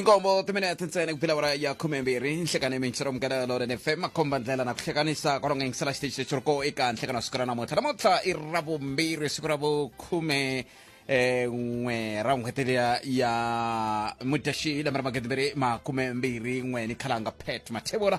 inkombo timinete tintsene kupfila wara ya khume mbirhi nhlekani minxiro mukela loren fm makhomba ndlela na ku hlekanisa kwalonga yingisela xiteji lexi ri ko eka nhlekani wa siku ra namuntlha namuntlha i ra vumbirhi siku ra vukhume eh, n'we ra n'hweti liya ya mudyaxihi lembe ra magidi mbirhi makume mbirhi n'we ni khalanga pet mathevula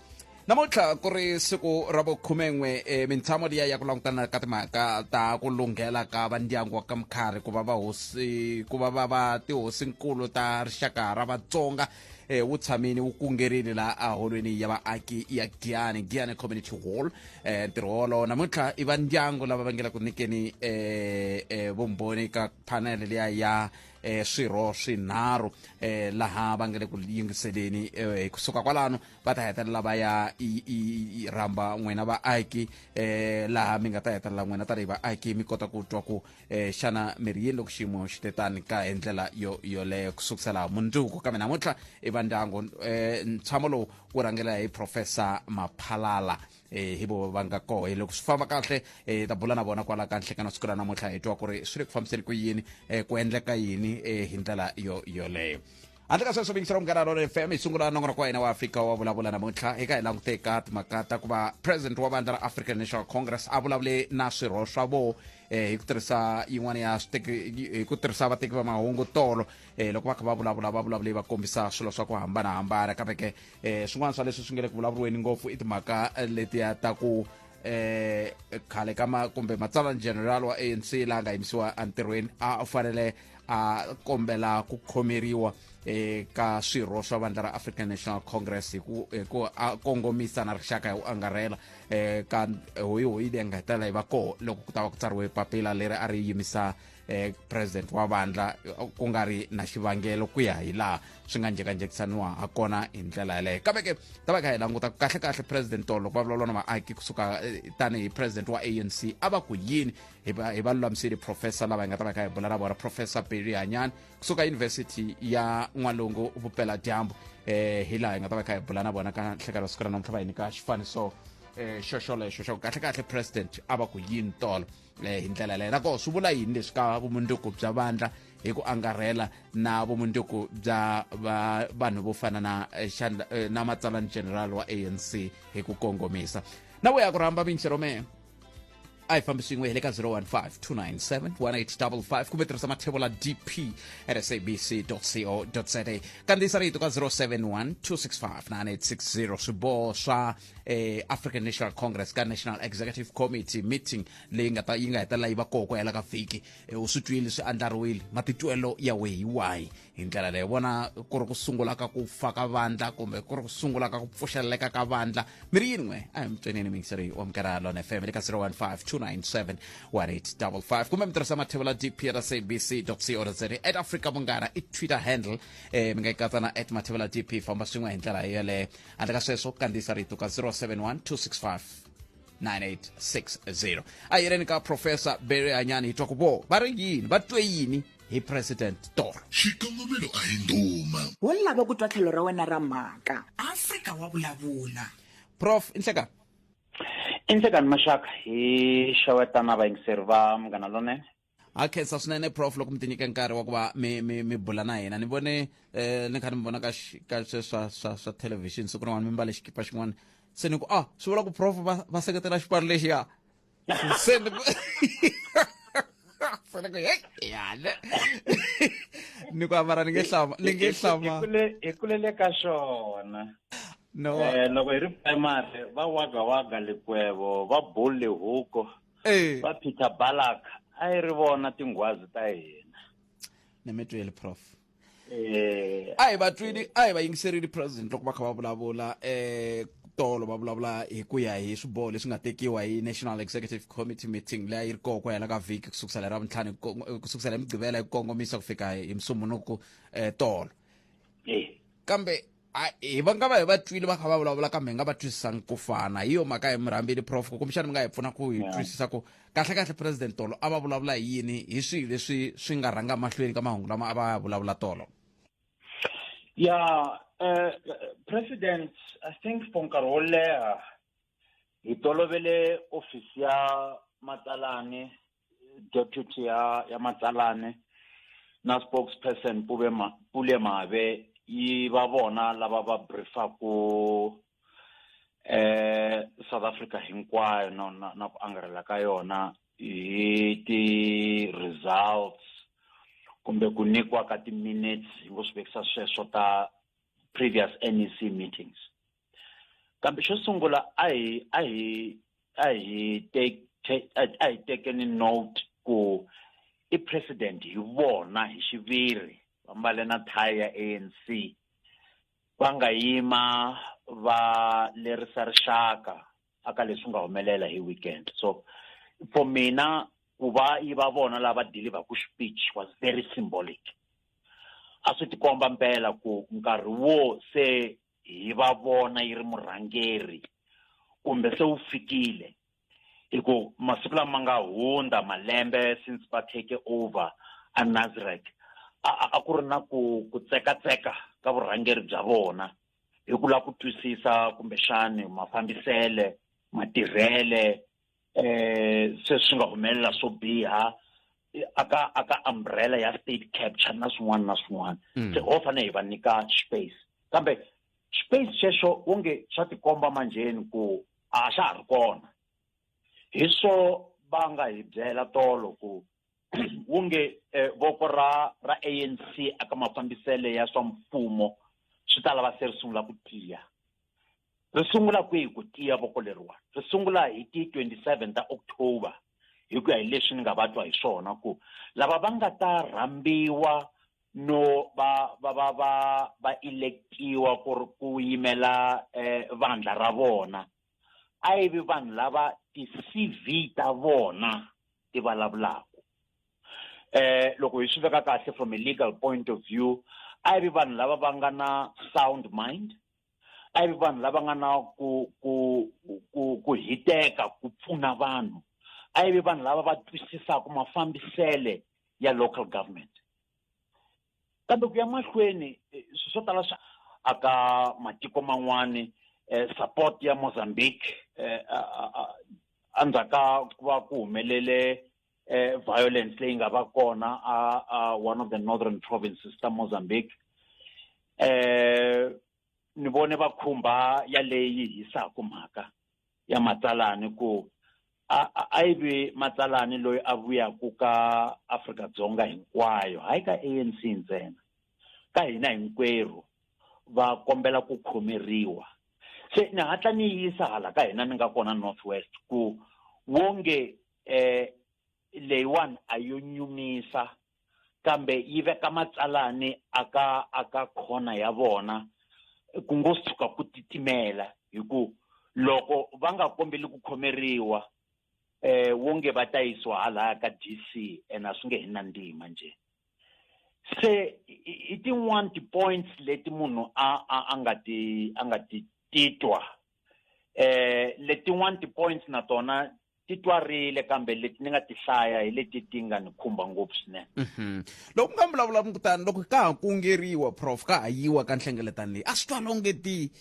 namuntlha ku ri siku ra vukhumen'we e mintshamo liya ya ku langutana ka timhaka ta ku lunghela ka va ndyangu wa ka mukharhi ku va va hosi ku va va va tihosinkulu ta rixaka ra vatsonga eh, wu tshamini wu kungerini laha aholweni ya vaaki ya giyani giyani community hall eh, ntirho wolowo namuntlha i va ndyangu lava va ngela ku nyikeni eh, eh, vumbhoni ka panele liya ya eh, swirho swinharhu eh, laha va nga le ku yingiseleni eh, kusuka kwalano va ta hetelela va ya rhamba n'wina vaaki eh, laha mi nga ta hetelela n'wina tanihi vaaki mi kota ku twa ku eh, xana mi ri yini loko xiyimo xi te tani ka hi ndlela yo yoleyo ku sukusela mundzuku kambe namuntlha i vandyangu eh, ntshamo lowu wu rhangela hi professor maphalala eh hi vo va nga koho hi loko swi famba kahle eh ta bula na vona kwala kahle kana siku ra namuntlha hi twa ku ri swi le ku fambiseni ku yini eh ku endleka yini eh hi ndlela yo yoleyo handle ka sweswo vingisela munghana lona fm hi sungula nongonoko wa hina wa afrika wa vulavula namuntlha eka hi langute ka timhaka ta ku va president wa vandla ra african national congress a vulavule na swirho swa vo eh hi ku tirhisa yin'wana ya switeki hi ku tirhisa vateki va mahungu tolo eh loko va kha va vulavula va vulavule va kombisa swilo swa ku hambanahambana kambe ke eh swin'wana swa leswi swi nge le ku vulavuriweni ngopfu i timhaka eh, letiya ta ku eh khale ka ma kumbe matsalani general wa anc la nga yimisiwa entirhweni a fanele a kombela ku khomeriwa eka swirho swa vandla ra african national congress hi ku hi ku a kongomisa na rixaka hi ku angarhela um ka hoyihoyi leyi nga hetelela yi va koho loko ku ta va ku tsariwe papila leri a ri yimisa eh, president wa vandla eh, ku nga ri na xivangelo ku ya hi laha swi nga njekanjekisaniwa ha kona hi ndlela yeleyo kambe ke ta va kha hi languta kahle kahle president tolo loko va vulavula na vaaki kusuka eh, tanihi president wa anc a va ku yini hi va hi va lulamisile professor lava hi nga ta va kha hi bula na vona professor berry hanyani kusuka university ya n'walungu vupela dyambu eh hi laha hi nga ta va kha hi bula na vona ka nhlekelo siku ra namuntlha va hi nyika xifaniso eh xoxolexo xa ku kahle kahle president a va ku yini tolo le hi ndlela leyi nako swi vula yini leswi ka vumundzuku bya vandla hi ku angarhela na vumundzuku bya va vanhu vo fana na eh, xandla eh, na matsalani general wa anc hi ku kongomisa na ku ya ku rhamba minchero mehe a hi fambi swin'we hi le ka 015 297 1855 kumbe tirhisa mathebo la dp at sabc co za kandziyisa rito ka 071 265 9860 swiboho swa eh, african national congress ka national executive committee meeting leyi nga ta yi nga hetelela yi va koho ku hela ka vhiki eh, u swi twile swi andlariwile matitwelo ya we hi wahi hi ndlela leyi vona ku ri ku sungula ka ku fa ka vandla kumbe ku ri ku sungula ka ku pfuxeleleka ka vandla mi ri yin'we a hi mitswenini mingiseri wa mukera lona fm le ka 0152971855 kumbe mi tirhisa mathevela dprcbc co za at africa munghana i twitter handle eh, mi nga yi katsa na at mathevela dp famba swin'we hi ndlela yeleyo handle ka sweswo kandziyisa rito ka 071 265 9860 a hi yeleni ka profesa bere hanyani hi twa ku vo va ri yini va twe yini hi president toro xikongomelo a hi ndhuma wo lava ku twa tlhelo ra wena ra mhaka afrika wa vulavula prof inhleka inhlekani maxaka hi xewetana vayingiseri va munghana lonene ha khensa swinene prof loko mi tinyike nkarhi wa ku va mi, mi, mi bula na hina ni vone eh, ni kha ni mi vona ka xi- ka swe swa swa swa television siku rin'wana mi mbale xikipa xin'wana se ni ku ah swi vula ku prof va va seketela xipano lexiya se ni ku se ni ku hey yana ni ku amara ni nge hlama ni nge hlama Hi kule- hi kulele ka xona no Eh, loko hi ri primary va waga waga likwebo va bull lihuko Eh. va peter balak a yi ri vona tinghwazi ta hina ni mi tweli prof eh a hi va twini a hi va yingiserile president loko va kha va vulavula eh tolo va vulavula hi ku ya hi swiboho leswi nga tekiwa hi national executive committee meeting leyi a yi ri koho ku hela ka vhiki ku sukusela hi ravuntlhanu ku sukusela hi mugqivela hi ku kongomisa ku fika hi musumunuku eh tolo eh kambe a hi va nga va hi va twile va kha va vulavula kambe hi nga va twisisanga ku fana hi yo mhaka hi mi rhambile prof kumbexana mi nga hi pfuna ku hi twisisa ku kahlekahle president tolo a va vulavula hi yini hi swihi leswi swi nga rhanga mahlweni ka mahungu lama a va ya vulavula tolo ya eh, president i think for nkarhi wo leha hi tolovele ofisi ya matsalani deputy ya ya matsalane na spokesperson pule mave yi va vona lava va briefaku eh South Africa hinkwayo na na, na ku angarhela ka yona hi ti results kumbe ku nyikiwa ka ti-minutes hi ngo swi vekisa sweswo ta previous nec meetings kambe xo sungula a hi a hi a hi te a hi tekeni note ku i president hi vona hi xiviri va mbale na tie ya ANC va nga yima va lerisa rixaka aka leswi nga humelela hi weekend so for mina ku va yi va vona lava deliverku speech was very symbolic a swi tikomba mpela ku nkarhi wo se hi va vona yi ri murhangeri kumbe se wu fikile hi ku masiku lama nga hundza malembe since va take over a nazirek a ku ri na ku ku tsekatseka ka vurhangeri bya vona hi ku lava ku twisisa kumbexani mafambisele matirhele eh se swi nga humelela swo biha aka aka umbrella ya state capture na swin'wana na swin'wana mm. se ho fanele hi va nyika space kambe space xexo onge swa tikomba manjheni ku a xa ha ri kona hi swo va nga hi byela tolo ku wonge eh, voko ra ra anc aka mafambisele ya swa mfumo swi ta lava se ri sungula ku tiya ri sungula kwihi ku tiya voko leriwani ri sungula hi ti 27 ta october hi ku ya hi leswi ni nga va twa hi swona ku lava va nga ta rhambiwa no va va va va va electiwa ku ri ku yimela eh vandla ra vona a yi vi vanhu lava ti-cv ta vona ti vulavulaka eh loko hi swi veka kahle from a legal point of view a yi vi vanhu lava va nga na sound mind a yi vi vanhu lava nga na ku ku ku ku hiteka ku pfuna vanhu a yi vi vanhu lava va twisisaka mafambisele ya local government kambe ku ya mahlweni eh, swo tala swa aka matiko man'wani eh, support ya mozambique eh, andzhaka ku va ku humelele eh, violence leyi nga va kona a, a one of the northern provinces ta mozambique eh ni vone va khumba yaleyi hisaka mhaka ya matsalani ku a a yi ve matsalani loyi a vuyaku ka Afrika Dzonga hinkwayo hayi ka ANC ntsena ka hina hinkwerhu va kombela ku khomeriwa se ni hatla ni yisa hala ka hina ni nga kona North West ku wonge eh leyiwani a yo nyumisa kambe yi veka matsalani aka aka khona ya vona ku ngo si tshuka ku titimela hi ku loko va nga kombeli ku khomeriwa eh wonge va ta yisiwa halaya ka DC and a swi nge hi na ndima nje se i tin'wani ti-points leti munhu a a a nga ti a nga ti titwa eh letin'wana ti-points na tona ti twarile kambe leti ni nga ti hlaya hi leti ti nga ni khumba ngopfu swinene mhm. loko nga vulavula kutani loko ka ha kungeriwa prof ka ha yiwa ka nhlengeletano leyi a swi twa longe ti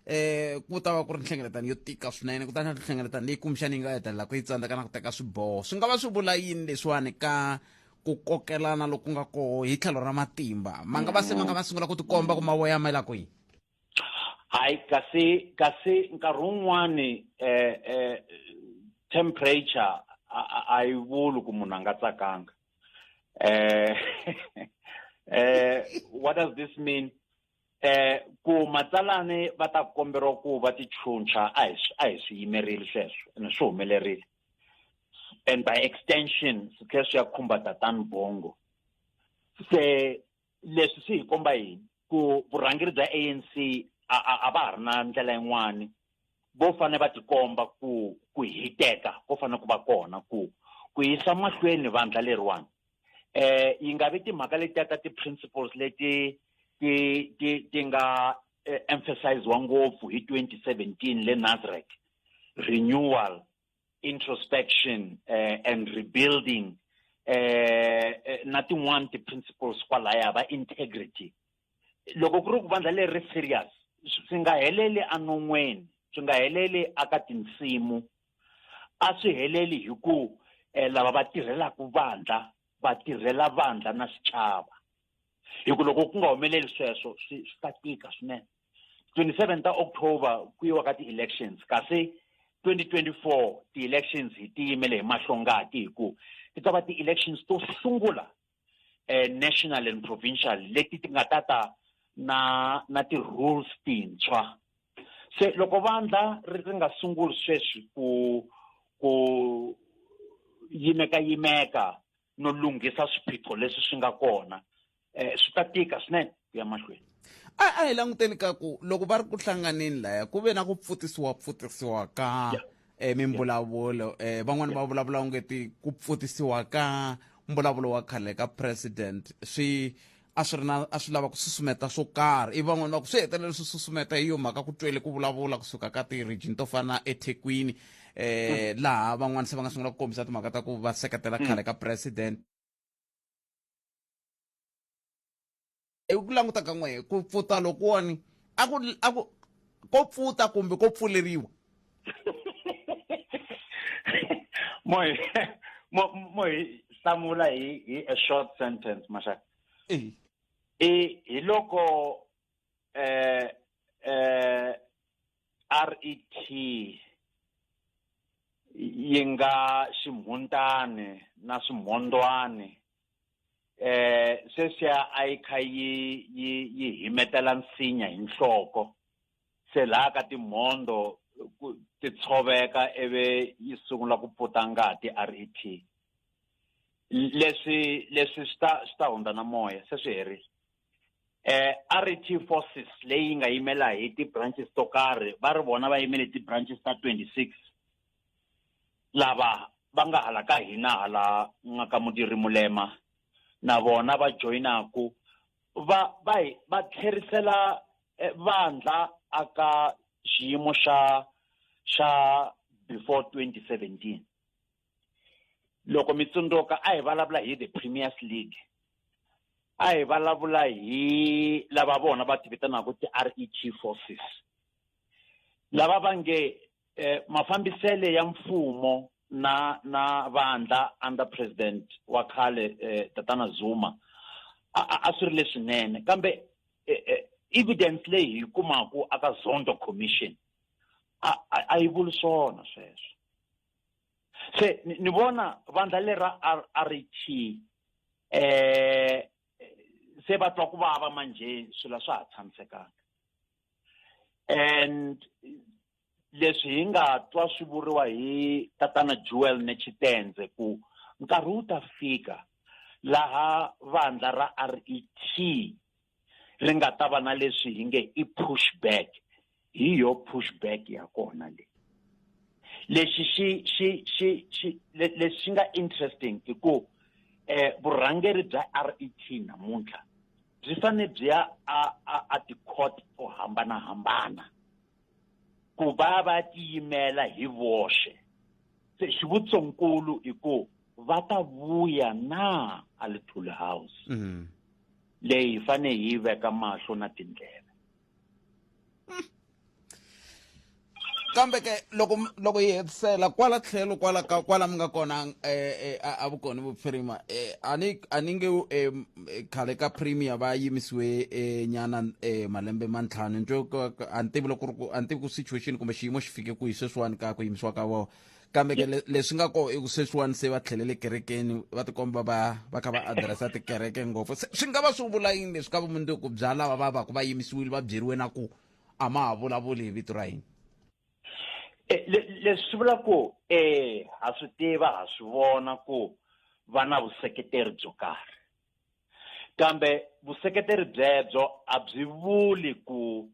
eh ku ta va ku ri nhlengeletano yo tika swinene kutani a nhlengeletano leyi kumbexani yi nga hetelela ku yi tsandzeka na ku teka swiboho swi nga va swi vula yini leswiwani ka ku kokelana loku nga koho hi tlhelo ra matimba ma nga va se ma nga va sungula ku tikomba ku mavoya ma yi la kwihi hayi kasi kasi nkarhi wun'wani eh eh temperature a yi vuli ku munhu a nga tsakanga eh eh what does this mean eh ku matsalani va ta komberiwa ku va ti chuncha a hi a hi swi yimerile sweswo ene swi humelerile and by extension swi tlhela swi ya khumba tatani bongo se leswi swi hi komba yini ku vurhangeri bya anc a va ha ri na ndlela yin'wani vo fane va tikomba ku ku hiteka ko fane ku va kona ku ku yisa mahlweni vandla leriwani eh yi nga vi timhaka letiya ta ti-principles leti ti ti ti nga eh, emphasiziwa ngopfu hi 2017 le nazareth renewal introspection uh, and rebuilding eh na tin'wana ti-principles kwalaya va integrity loko ku ri ku vandla leri ri serious swi nga heleli anon'weni swi nga heleli aka tinsimu a swi heleli hi ku eh, lava va tirhelaka vandla va tirhela vandla na xichava hi ku loko ku nga humeleli sweswo swi swi ta tika swinene 27 ta october ku yiwa ka ti-elections kasi 2024 ti-elections hi ti yimele hi mahlongati hi ku ti ta va ti-elections to sungula eh, national and provincial leti ti nga ta ta na na ti-rules tintshwa se loko vandla ri ri nga sunguli sweswi ku ku yimeka yimeka no lunghisa swiphiqo leswi swi nga kona um swi ta tika swinene ku ya mahlweni a a hi languteni ka ku loko va ri ku hlanganeni laya ku ve na ku pfutisiwa pfutisiwa ka yeah. eh, mimbulavulo eh, van'wani va vulavula ungeti ku pfutisiwa ka mbulavulo wa khale ka president swi a swi ri na a swi lava ku susumeta swo karhi ivi van'wana va ku swi hetelela swi susumeta hi yo mhaka ku twele ku vulavula kusuka ka ti-region to fana ethekwini um laha van'wana se va nga sungula ku kombisa timhaka ta ku va seketela khale ka president hi ku languta ka n'wehe ku pfuta lokuwani a ku a ku ko pfuta kumbe ko pfuleriwa moy moy hlamula hi hi a short sentence maxaka i hi loko eh eh RET yi nga ximhuntani na swimhondwani eh sweswiya a yi kha yi yi yi himetela nsinya hi nhloko se laha ka timhondo ku ti tshoveka ivi yi sungula ku puta ngati rep leswi leswi swi ta swi ta hundza na moya se swi herile eh RET forces leyi nga yimela hi ti branches to karhi va ri vona va yimele ti branches ta 26 lava va nga hala ka hina hala nga ka mudiri mulema na vona va joyinaku va va hi va tlherisela eh, vandla aka xiyimo xa xa before 2017 loko mi tsundzuka a hi vulavula hi the premiers league a hi vulavula hi lava vona va ti vitanaka ti-ret forces lava va nge eh, mafambisele ya mfumo na na vandla under president wa khale eh, tatana zuma a swi ri leswinene kambe eh, eh, evidence leyi hi kumaku aka zondo commission a yi vuli swona sweswo se ni vona vandla lera r t eh se va twa ku vava manje swilo swa ha tshamisekanga and leswi hi nga twa swi vuriwa hi tatana Jewel Nechitenze ku nkarhi wu ta fika laha vandla ra RET ri nga ta va na leswi hi nge i push back hi yo push back ya kona le lexi xi xi xi xi lexi xi nga interesting i ku eh vurhangeri bya RET namuntlha byi fane byi ya a a a ti-court to hambanahambana ku va va tiyimela hi voxe se xivutisonkulu i ku va ta vuya na a little house leyi hi fane hi yi veka mahlo na tindlela kambe ke loko loko yi hetisela kwala tlhelo kwala ka kwala mi nga kona um a vukoni vuphirima um a ni a ni nge um khale ka premier va yimisiwe um nyana um malembe ma ntlhanu njo a ni tivi loko ku ri ku a ni tivi ku situation kumbe xiyimo xi fike kwihi sweswiwani ka ku yimisiwa ka vona kambe ke le- leswi nga ko i ku sweswiwani se va tlhelele kerekeni va tikomba va va kha va adiresa tikereke ngopfu Se- swi nga va swi vula yini leswi ka vumundzuku bya lava va va ku va yimisiwile va byeriwe na ku a ma ha vulavuli hi vito ra yini Eh, le- leswi swi vula ku eh ha swi tiva ha swi vona ku va na vuseketeri byo karhi kambe vuseketeri byebyo a byi vuli ku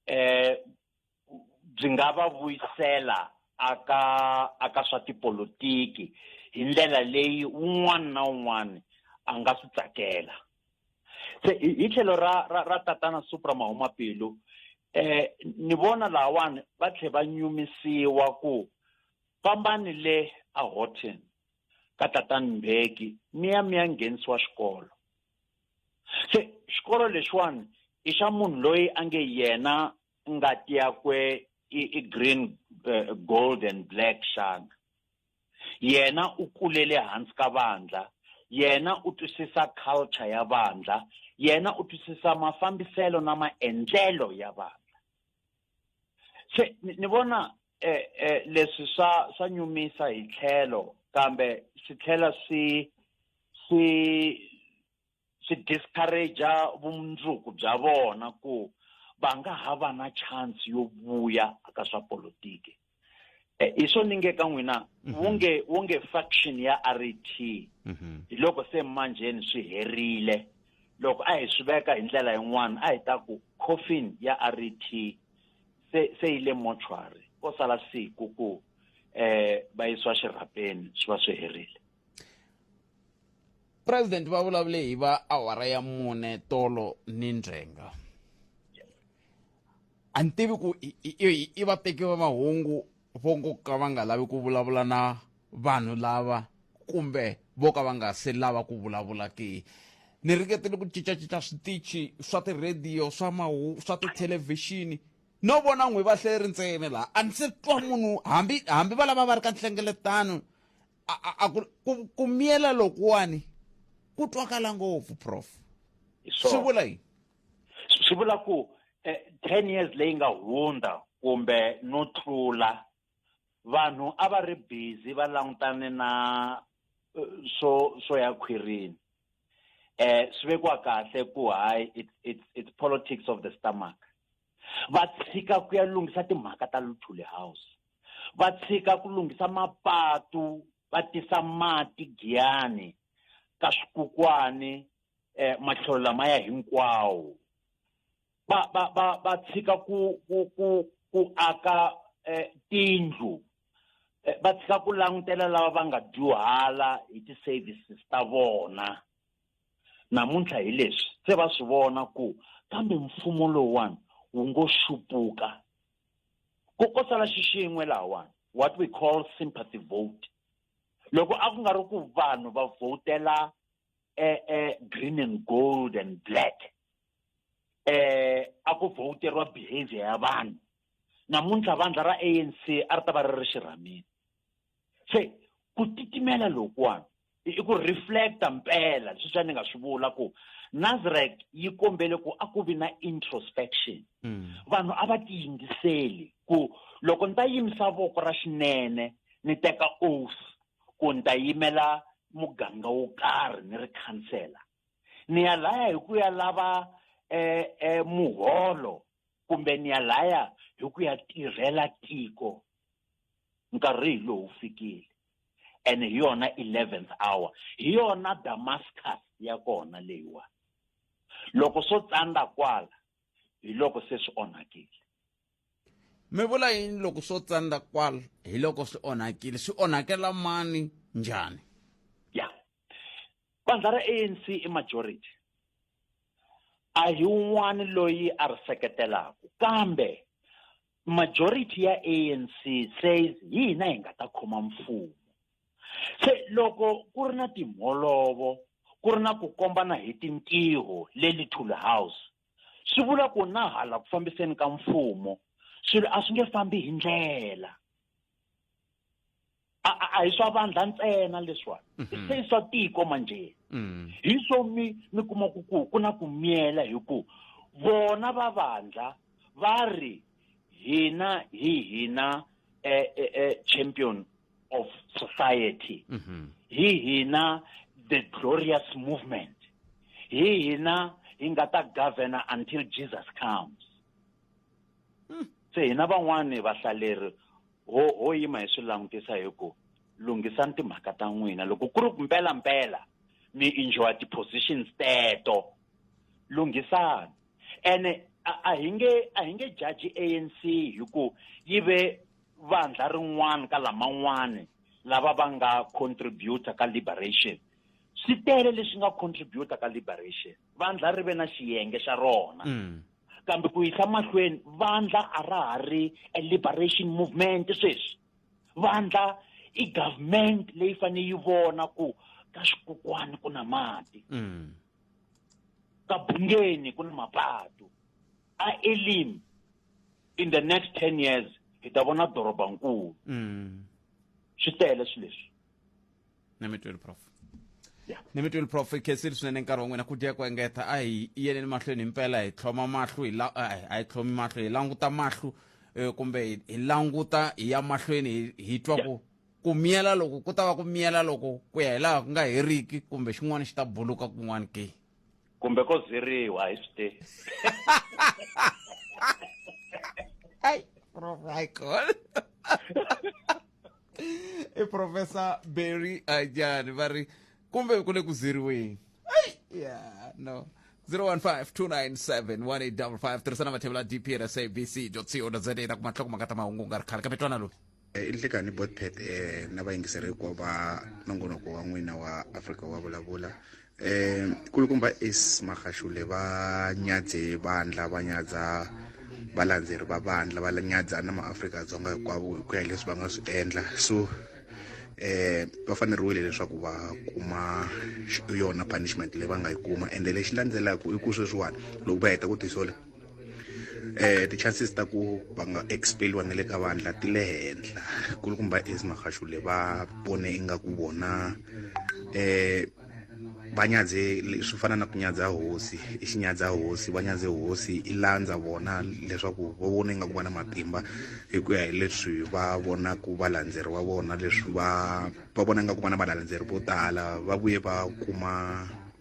eh byi nga va vuyisela aka aka swa tipolotiki hi ndlela leyi un'wana na un'wana a nga swi tsakela se hi tlhelo ra ra ra tatana supra mahumapilu eh ni vona lawani va tlhe va nyumisiwa ku fambani le a Horton ka tatana Mbeki mi ya mi ya nghenisiwa xikolo se xikolo lexiwani i xa munhu loyi a nge yena ngati yakwe i, i green uh, gold and black xana yena u kulele hansi ka vandla yena u twisisa culture ya vandla yena u twisisa mafambiselo na maendlelo ya vandla se ni vona eh, eh, leswi swa swa nyumisa hi tlhelo kambe swi tlhela swi swi swi discourage vumundzuku bya vona ku va nga ha va na chance yo vuya ka swa politiki eh, hi swo ni nge ka n'wina mhm. wu nge wu nge faction ya ret mhm. hi loko se manjheni swi herile loko a hi swi veka hi ndlela yin'wana a hi ta ku coffin ya ret se se yi le mortuary ko sala siku ku eh va yisiwa xirhapeni swi va swi herile president va vulavule hi va awara ya mune tolo ni ndzenga a ni tivi ku i vateki va mahungu vo ngo ka va nga lavi ku vulavula na vanhu lava kumbe vo ka va nga se lava ku vulavula ke ni ringetile ku cincacinca switichi swa tirhediyo swa mahu swa tithelevhixini no vona n'wi va hleri ntsena laha a ni se twa munhu hambi hambi va lava va ri ka nhlengeletano a- a- a ku- ku- ku miyela lokuwani ku twakala ngopfu prof Hi swi swona. vula yini Swi- swi vula ku eh, 10 years leyi nga hundza kumbe no tlula vanhu a va ri busy va langutane na eh, swo swo ya khwirini eh swi vekiwa kahle ku hayi it's, it's, it's politics of the stomach va tshika ku ya lunghisa timhaka ta luthuli house va tshika ku lunghisa mapatu va tisa mati giyani ka swikukwana eh matlhelo lamaya hinkwawo va va va va tshika ku ku ku ku aka eh, tindlu eh, va tshika ku langutela lava va nga dyuhala hi ti-services ta vona namuntlha hi leswi se va swi vona ku kambe mfumo lowuwani wu ngo xupuka ku ko sala xixin'we lahawani what we call sympathy vote loko a ku nga ri ku vanhu va vhotela e e green and gold and black eh a ku vhoteriwa behavior ya vanhu namuntlha vandla ra ANC a ri ta va ri ri xirhamini se ku titimela lokuwani i ku reflecta mpela leswi swa ni nga swi vula ku nazarek yi kombele ku a ku vi na introspection mm. vanhu a va tiyingiseli ku loko ni ta yimisa voko ra xinene ni teka oath ku ni ta yimela muganga wo karhi ni ri khansela ni ya laya hi ku ya lava eh, eh, muholo kumbe ni ya laya hi ku ya tirhela tiko nkarhi hi lowu fikile and hi yona 11th hour hi yona damascus ya kona leyiwa loko swo tsandza kwala hi loko se swi onhakile mi vula yini loko swo tsandza kwala hi loko swi onhakile swi onhakela mani njhani vandla ra anc i majority a hi un'wana loyi a ri seketelaka kambe majority ya anc says hi hina hi nga ta khoma mfumo se loko ku ri na timholovo ku ri na ku kombana hi tintiho le little house swi vula ku na hala ku fambiseni ka mfumo swilo a swi nge fambi hi ndlela a a- a hi swa vandla ntsena leswiwani i se i swa tiko manjhe Mm. hi swo mi mi kuma ku ku ku na ku miyela hi ku vona va vandla va ri hina hi hina eh, eh, eh, champion of society Mhm. hi hina the glorious movement hi hina hi nga ta governor until jesus comes se hina van'wani vahlaleri ho ho yima hi swi langutisa hi ku lunghisani timhaka ta n'wina loko ku ri mpela mpela mi enjoy ti-positions teto lunghisani ene a hi nge a hi nge jaji anc hi ku yi ve vandla rin'wana ka laman'wana lava va nga contributor ka liberation swi tele leswi nga contributor ka liberation vandla ri ve na xiyenge xa rona mm. kambe ku yisa mahlweni vandla a ra ha ri a liberation movement sweswi vandla i government leyi fanele yi vona ku ka xikokwani ku na mati mm. ka bungeni ku na mapatu a elim in the next ten years hi ta vona dorobankulu mm. swi tele swileswi nemetweli prof Yeah. nemetweli prof i khensile swinene nkarhi wa n'wina ku dya ku engeta a hi yeleni mahlweni hi mpela hi tlhoma mahlo hi la a hi- a hi tlhomi mahlo hi languta mahlo eh, kumbe hi- hi languta hi ya mahlweni hi- hi twa ku ku miyela loko ku ta va ku miyela loko ku ya hi laha ku nga heriki kumbe xin'wana xi ta buluka kun'wana ke kumbe ko ziriwa hi swi tivi ai provical i professor berry ajani va ri kumbe ku le ku ziriweni ai ya no 015 tirhisana mathevula dp ra sabc co za ta kuma nhlokomhaka ta mahungu u nga ri khale kambe twana loyi i nhlikani botpet eh, na vayingiseri hinkwavo va nongonoko wa n'wina wa afrika wa vulavula eh kulukumba is magashule va nyadze vandla va nyadza valandzeri va vandla va nyadza na maafrika dzonga hinkwavo hi ku ya hi leswi va nga swi endla so eh va faneriwile leswaku va kuma yona punishment leyi va nga yi kuma ende lexi landzelaka i ku sweswiwani loko va heta ku tisola eh ti-chances ta ku va nga expeliwa na le ka vandla ti le henhla kulukumba is magashule va vone ingaku vona eh va nyadze swi fana na ku nyadza hosi i xinyadza hosi va nyadze hosi i landza vona leswaku va vona ingaku va na matimba hi ku ya hi leswi va vonaku valandzeri va vona leswi va va vona ingaku va na valandzeri vo tala va vuye va kuma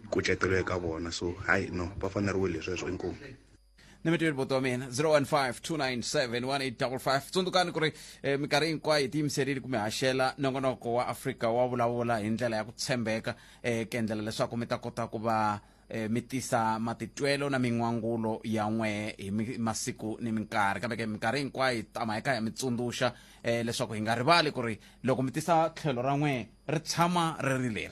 kucetelo eka vona so hayi no va faneriwile sweswo inkomu ni mi tweli boto wa mina 015 tsundzukani ku ri eh, minkarhi hinkwayo hi tiyimiserile ku mi haxela nongonoko wa afrika wa vulavula hi ndlela ya ku tshembeka eh, ku endlela leswaku mi ta kota ku va eh, mi tisa matitwelo na min'wangulo ya n'we hi mi- masiku ni minkarhi kambe ke minkarhi hinkwayo hi tama hi kha hi mi tsundzuxa eh, leswaku hi nga rivali ku ri loko mi tisa tlhelo ra n'we ri tshama ri ri leri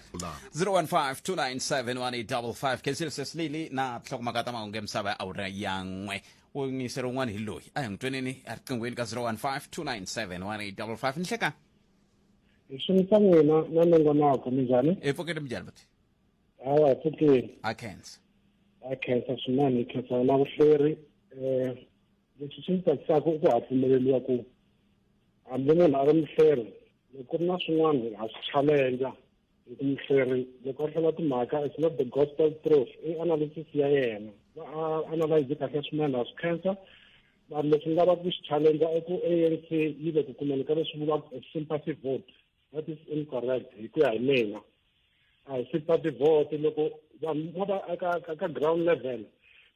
0152971855 kensile sesilili na tlhokomaka ta mahungu emisava ya awura ya n'we wungiseri wun'wana hi loyi a hi n'wi tweneni eriqinghweni ka 0152971855 nhleka xinisa n'wina na nongonoko minjhani epfokeni minjhani buti hawa pfukeni a khensa a khensa swinene hi khensa na vuhleri um leswi swi ni tsakisaka i ku ha pfumeleriwa ku hambi munhu a ri muhleri loko ri na swin'wana ha swi challenge hi ku muhleri loko a hlela timhaka it's not the gospel truth i analysis ya yena va analyze kahle swinene ha swi khensa vanhu leswi ni lavaka ku xi challenge i ku a n c yi le ku kumeni ka leswi vulaka a sympathy vote that is incorrect hi ku ya hi mina a hi sympathy vote loko vanhu va va eka ka ground level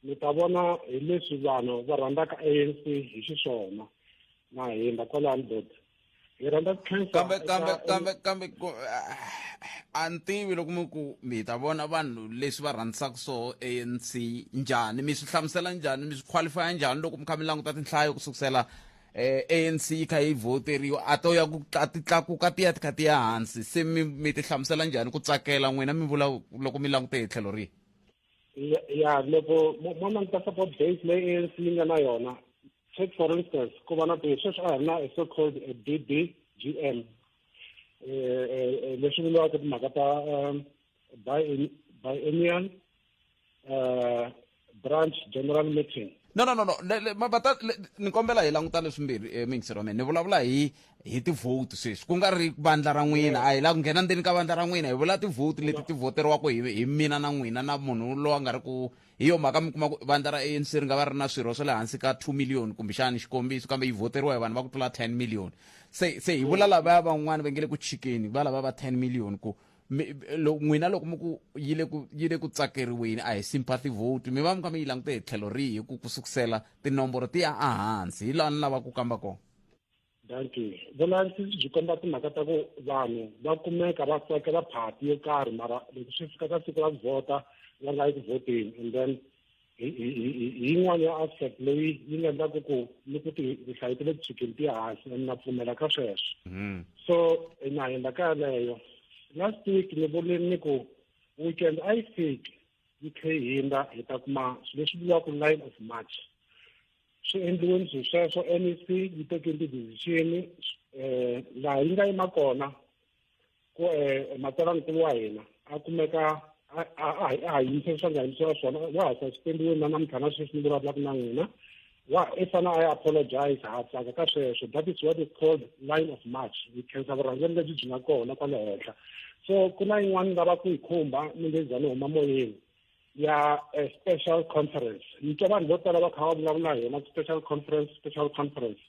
mi ta vona hi leswi vanhu va rhandzaka a n c hi xiswona na hindza kwalani dot hi rhandza ku khensa kambe eka- kambe kambe kambe ku- ah, a ni tivi loko mi ku mi ta vona vanhu leswi va rhandzisaka swo anc njhani mi swi hlamusela njhani mi swi qualifya njhani loko mi kha mi languta tinhlayo ku sukusela eh, anc yi kha yi voteriwa a to ya ku tla- ti tlakuka ti ya ti kha ti ya hansi se mi mi ti hlamusela njhani ku tsakela n'wina mi vula loko mi langute hi tlhelo rihi ya- ya loko mo mo languta support base leyi ANC yi nga na yona take for instance ku va na ti sweswi a hi na so called a bbgm um leswi vuriwaka timhaka ta um, biennial uh, branch general meeting no no no no mabata ni kombela hi languta leswimbirhi eh, mingisiro wa mina ni vulavula hi hi tivhoti sweswi ku nga ri vandla ra n'wina a hi la ku nghena ndzeni ka vandla ra n'wina hi vula tivhoti leti ti voteriwaka hi hi mina na n'wina na munhu loyi a nga ri ku hi yo mhaka mi kuma ku vandla ra anc ri nga va ri na swirho swa le hansi ka 2 million kumbexani xikombiso kambe yi voteriwa hi vanhu va ku tlula 10 million se se hi vula lavaya van'wani va nge le ku chikeni va lava va 10 million ku n'wina loko mi ku yi le ku yi le ku tsakeriweni a hi sympathy vote mi va mi kha mi yi langute hi tlhelo rihi ku ku sukusela tinomboro ti ya ehansi hi laha ni lava ku kamba kona danki vulavisisi byi komba timhaka ta ku vanhu va kumeka va tsakela phati yo karhi mara loko swi fika ka siku ra ku vhota va nga yi ku vhoteni and then hi yin'wana ya aspect leyi yi nga endlaka ku ni ku ti rihlayi ti le tshukeni ti hansi and na pfumela ka sweswo mm-hmm. so na hindaka yaleyo last week ni vule ni ku weekend a yi fiki yi tlhe yi hindza hi ta kuma swilo leswi vuriwaka line of march swi endliweni swilo sweswo mec yi teke ti-decision um laha yi nga yima kona ku um matsalankulu wa hina a kumeka a ha yimise swa nga yimisiwa swona wa ha saspendiweni na namuntlha na sweswi ni vulavulaka na n'wina wa i fana a ya apologize ha tsaka ka sweswo that is what is called line of march hi khensa vurhangeri lebyi byi nga kona kwale henhla so ku na yin'wana lava ku yi khumba ni nge za ni huma moyeni ya eh, special conference ni twa vanhu vo tala va kha va vulavula hi yona special conference special conference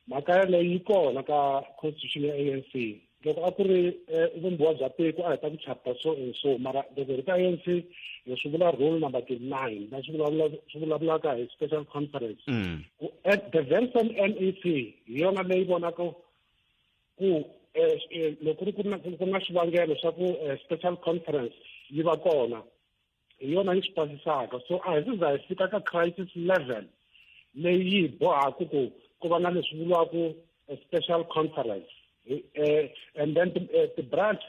mhaka yaleyo yi kona ka constitution ya a n c loko a ku ri eh, vumbiwa bya tiko a hi ta ku chapter so and so mara loko hi ri ka anc hi swi vula rule number twenty nine va swi vulavula swi vulavulaka hi special conference mm. ku at the very same mec hi yona leyi vonaka ku eh, eh, loko ri ku na ku na xivangelo xa ku special conference yi va kona hi yona yi swi pasisaka so a hi siza hi fika ka crisis level leyi yi bohaku ku ku va na leswi vuriwaku special conference eh, and then eh, ti-branch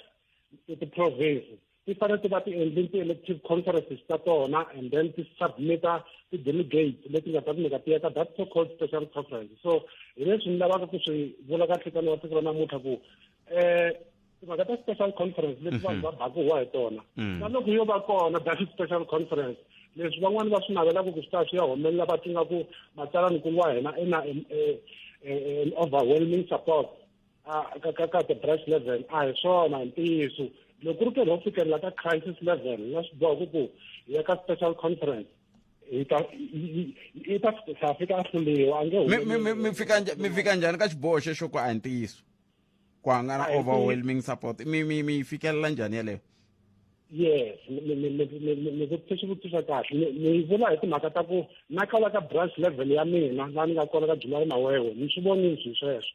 ti-province ti fanele ti va ti endle ti-elective conferences ta tona and then ti submita ti-delegates leti nga ta kumeka ti ya ka that so called special conference so hi leswi ni lavaka ku swi vula ka nhlikani wa siku ra namuntlha ku eh timhaka ta special conference leti vanhu va baku wa hi tona na loko yo va kona baku special conference leswi van'wani va swi navelaka ku swi ta swi ya humelela va tinga ku matsalanikulu wa hina i na an overwhelming support ka ka ka the branch level a hi swona ntiyiso loko ri karhi ho fikelela ka crisis level na swi boha ku ku hi ya ka special conference hi ta hi ta fika a hluliwa a nge mi fika njhani ka xiboho xexo ku a hi ntiyiso ku hanga na overwhelming support mi mi mi fikelela njhani yeleyo yes ni vutise swivutiso kahle ni vula hi timhaka ta ku na kala ka branch level ya mina la ni nga kona ka july mawewe ni swi vonile swi sweswo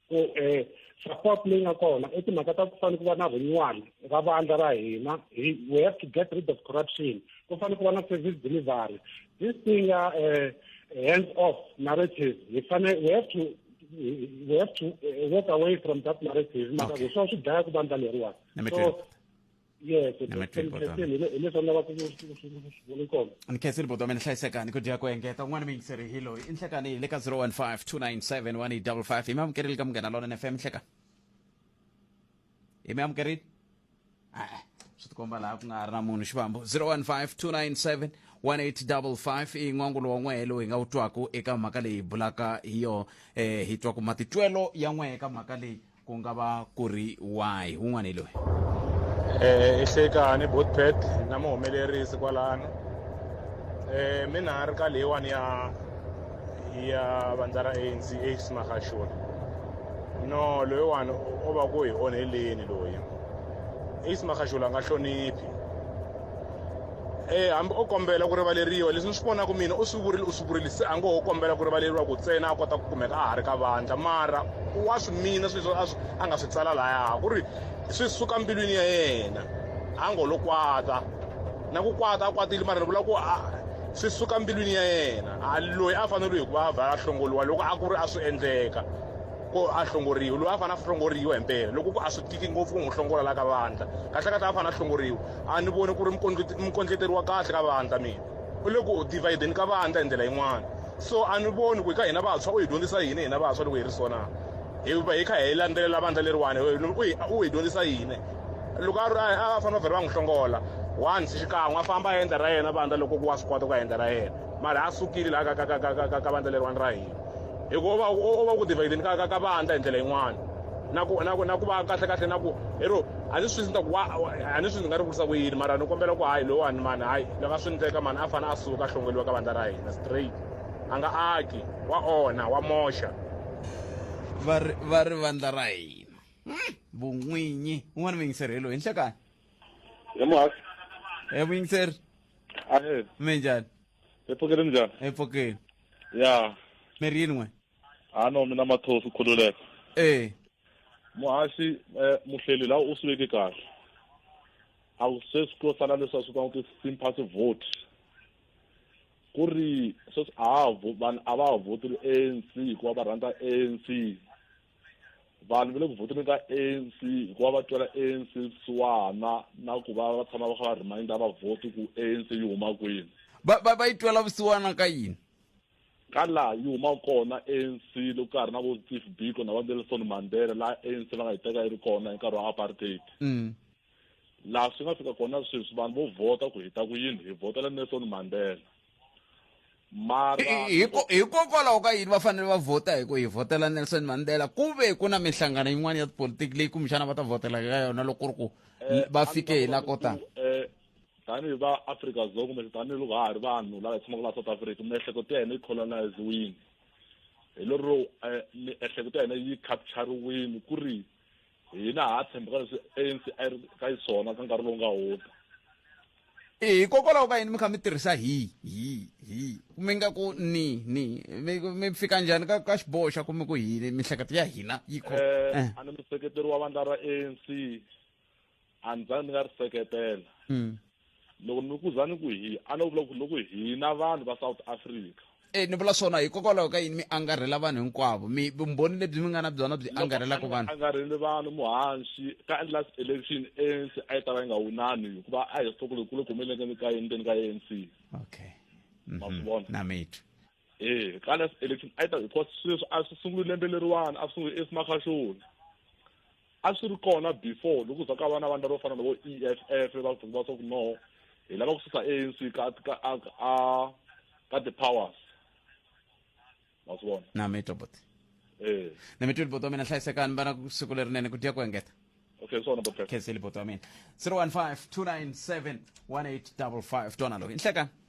ku um support leyi nga kona i timhaka ta ku fanele ku va na renewal ra vandla ra hina we have to get rid of corruption ku fanele ku va na service delivery this thing ya um hands off narrative hi fanele we have to we have to uh, walk away from that narrative mara okay. swa swi dlaya ku vandla leriwani so yes hileswi lava kuvoni kona ni khensile bodo mina hlayisekani ku dya ku engeta un'wana mi yingiseri hi loyi i nhlekani hi le ka 015 297 1855 hi mi amukerile ka munghana lona nfm nhlekani hi mi amukerini a-e swi tikomba laha ku nga ha ri na munhu xivambo 015 297 i n'wangulo wa n'wehe lowu hi nga wu twaku eka mhaka leyi hi bulaka hi yona um hi twa ku matitwelo ya n'wehe eka mhaka leyi ku nga va ku ri wahi wun'wana hi loyi Eh, ihlekani botpet na muhumelerisi kwalano eh mina ri ka leyiwani ya ya vandza ra anc ace magashula no loyiwani o va ku hi onheleni loyi ace magashula a nga hloniphi e hambi o kombela ku rivaleriwa leswi ni swi vonaka mina u swi vurile u swi vurile se a ngo ho kombela ku rivaleriwa ku tsena a kota ku kumeka a ha ri ka vandla mara wa swi mina sweswo a swi a nga swi tsala lahaya ku ri swi suka mbilwini ya yena a ngo lo kwata na ku kwata a kwatile mara ni vula ku a swi suka mbilwini ya yena a loyi a fanele hi ku va a vha a hlongoriwa loko a ku ri a swi endleka ko a hlongoriwa loyi a fanele a hlongoriwa hi mpela loko ku a swi tiki ngopfu ku n'wi hlongola la ka vandla kahle kahle a fanele a hlongoriwa a ni voni ku ri mukondleteri wa kahle ka vandla mina u le ku divideni ka vandla hi ndlela yin'wana so a ni voni ku hi ka hina vantshwa u hi dyondzisa yini hina vantshwa loko hi ri so na hi va hi kha hi landzelela vandla leriwani u hi dyondzisa yini loko a ri a va fanele va vhele va n'wi hlongola once xikan'we a famba a endla ra yena vandla loko ku wa swi kota ku ya endla ra yena mara a sukile laha ka ka ka ka ka ka vandla leriwani ra hina hikuva u va u va ku divhayideni ka ka ka vandla hi ndlela yin'wana na ku na ku na ku va kahle kahle na ku ero a ni swi ta ku wa a ni swi ndzi nga ri vutisa ku yini mara ni kombela ku hayi lowani mani hayi loko a swi ndleka mani a fanele a suka a hlongoliwa ka vandla ra hina straight a nga aki wa onha wa moxa va ri va ri vandla ra hina vun'winyi u nga ni muyingiseri hi loyi henhla kaya hi muhasi e muyingiseri ahe mi njhani epfukeni njhani epfukeni ya mi ri yin'we a no mina mathosi khululeka e muhasi um muhleli laha u swi veke kahle a ku se swi to sala leswi a swi vitaniwa ku sympathy vote ku ri sweswi a ha vanhu a va ha vhoteli anc hikuva va rhandza anc vanhu va le ku vhoteni ka anc hikuva va twela anc vusiwana na ku va va tshama va kha va reminder va vhoti ku anc yi huma kwini va va va yi twela vusiwana ka yini ka laha yi huma kona anc loko ka ha ri na vo steve biko na va nelson mandela laha anc va nga yi teka yi ri kona hi nkarhi wa apartheid mm. laha swi nga fika kona sweswi vanhu vo vhota ku hi ta ku yini hi vhotela nelson mandela mara hikokwalaho ka yini va fanele va vhota hi ku hi vhotela nelson mandela ku ve ku na minhlangano yin'wana ya tipolitiki leyi kumbexana va ta vhotela ka yona loko ri ku eh, va fike hi la ko tani eh, tanihi va afrika dzonga kumbe tanihiloko ha ha ri vanhu lava hi tshamaka laha south africa miehleketo ya hina yi coloniziwini hi lero eh, miehleketo ya hina yi capturiwini ku ri hina ha ha tshembeka leswi anc a yi ri ka xiswona ka nkarhi lowu nga hundza hikokwalaho ka yini mi kha mi tirhisa hi hi hi mi nga ku ni ni mi mi fika njhani ka ka xiboho xa ku mi ku hini mihleketo ya hina yi kho Eh, Eh. a ni museketeri wa vandla ra anc a ni zanga ni nga ri seketela mm. loko ni ku zani ku hi a no vula ku loko hina vanhu va south africa e ni vula swona hikokwalaho ka yini mi angarhela vanhu hinkwavo mi vumbhoni lebyi mi nga na byona byi angarhelaka vanhu angarheli vanhu muhanxi ka endla election anc a yi ta va yi nga wunani hikuva a hi swi tloko lokulu ku humeleke ka yini ndzeni ka anc okay mhm. ma swi vona na mithu ee eh, kale election a yi ta because sweswi a swi sunguli lembe leriwani a swi sunguli esimakhaxoni a swi ri kona before loko za ka vana vanhu lavo fana na vo e f f va ku va swa ku no hi lava ku susa anc ka ka a ka ti-powers ma swi vona na mi tobot ee eh. na mi twili boto wa mina hlayisekani vana siku lerinene ku dya ku engeta okay swona boto khenseli boto wa mina 015 297 1855 twana loyi inhlekani